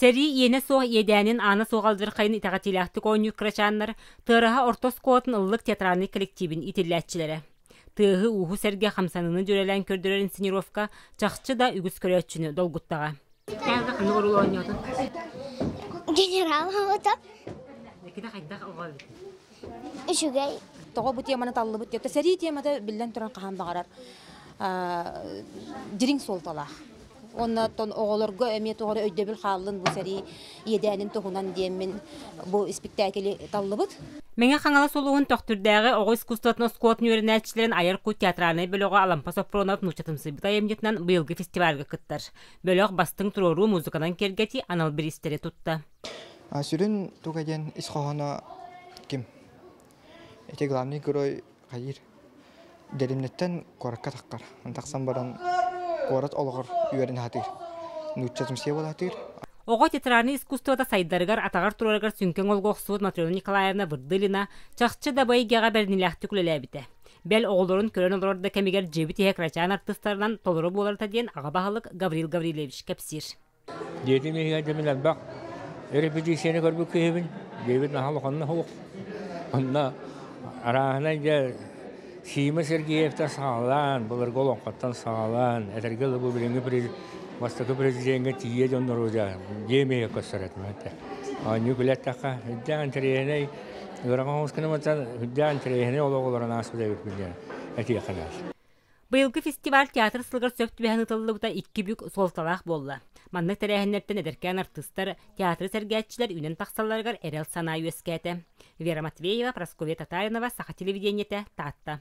Сэрии иэнэ суох иэдээнин аана суох алдьархайын итэҕэтиилээхтик оонньуур кырачааннар тыараһа орто оскуолатын ыллык театральный коллективин итиллээччилэрэ. Тыаһы-ууһу сэргэ хамсаныыны дьүөрэлээн көрдөрөр инсценировка чахчы да үгүс көрөөччүнү долгуттаҕа. Кээбэ ханнык орул оонньоотун? Генерал хабыта. Кини хайдах оҕо эбит? Үчүгэй. Тоҕо бу теманы таллыбыт диэтэ сэрии темата биллэн туран хаһан баҕарар дириҥ суолталаах. Онно оҕолорго эмиэ тоҕо өйдөбүл хааллын бу сэрии иэдээнин туһунан диэммин бу испиктээкили таллыбыт. Мэҥэ Хаҥалас улууһун Төхтүрдээҕи оҕо искусствотын оскуолатын үөрэнээччилэрин айар кут театральнай бөлөҕө Алампа Сопронов нууччатымсыйбыт айымньытынан быйылгы фестивальга кыттар. бөлөх бастыҥ туруоруу музыканан киэргэтии анал бириистэри тутта. А сүрүн туга диэн ис хоһооно ким? Эти главный герой хайыр Дерімнеттен коракка таққар. Тақсан баран корат олығыр үйерін хатыр. Нуччатымсия болатыр. Оҕо театральный искусствода сайдарыгар атаҕар турарыгар сүҥкең олгоқсуут Матрена Николаевна Вырдылина чахчы да байгеҕа бэрнилээхтик үлэлээбитэ. Бэл оҕолорун көрөн олорор да кэмигэр дьиэбит иһэ кырачаан артыстарынан толору буоларыта диэн аҕа баһылык Гаврил Гаврилевич кэпсиир. Дьиэтин иһигэр дьомун элбэх эрэпэтиисийэни көрбүт киһибин. Дьиэбит наһаа улаханна суох. Онно арааһынай дьэ Сима Сергеевтэр саҕалаан, былыргы олоҥхоттон саҕалаан, этэргэ дылы бу билиҥҥи през- бастакы президеҥҥэ тиийэ дьон норуодьа дьиэ миэхэ көстөр этим. Оонньуу билэттэххэ, ирдээх интэриэһинэй, Быйылгы фестиваль театр сылыгар сөп түбэһэн ытыллыбыта икки бүк суолталаах буолла. Маннык тэрээһиннэртэн эдэркээн артыыстар, театры сэргээччилэр үүнэн тахсалларыгар эрэл санаа үөскээтэ. Вера Матвеева, Прасковья Татаринова, Саха телевидениетэ, Таатта.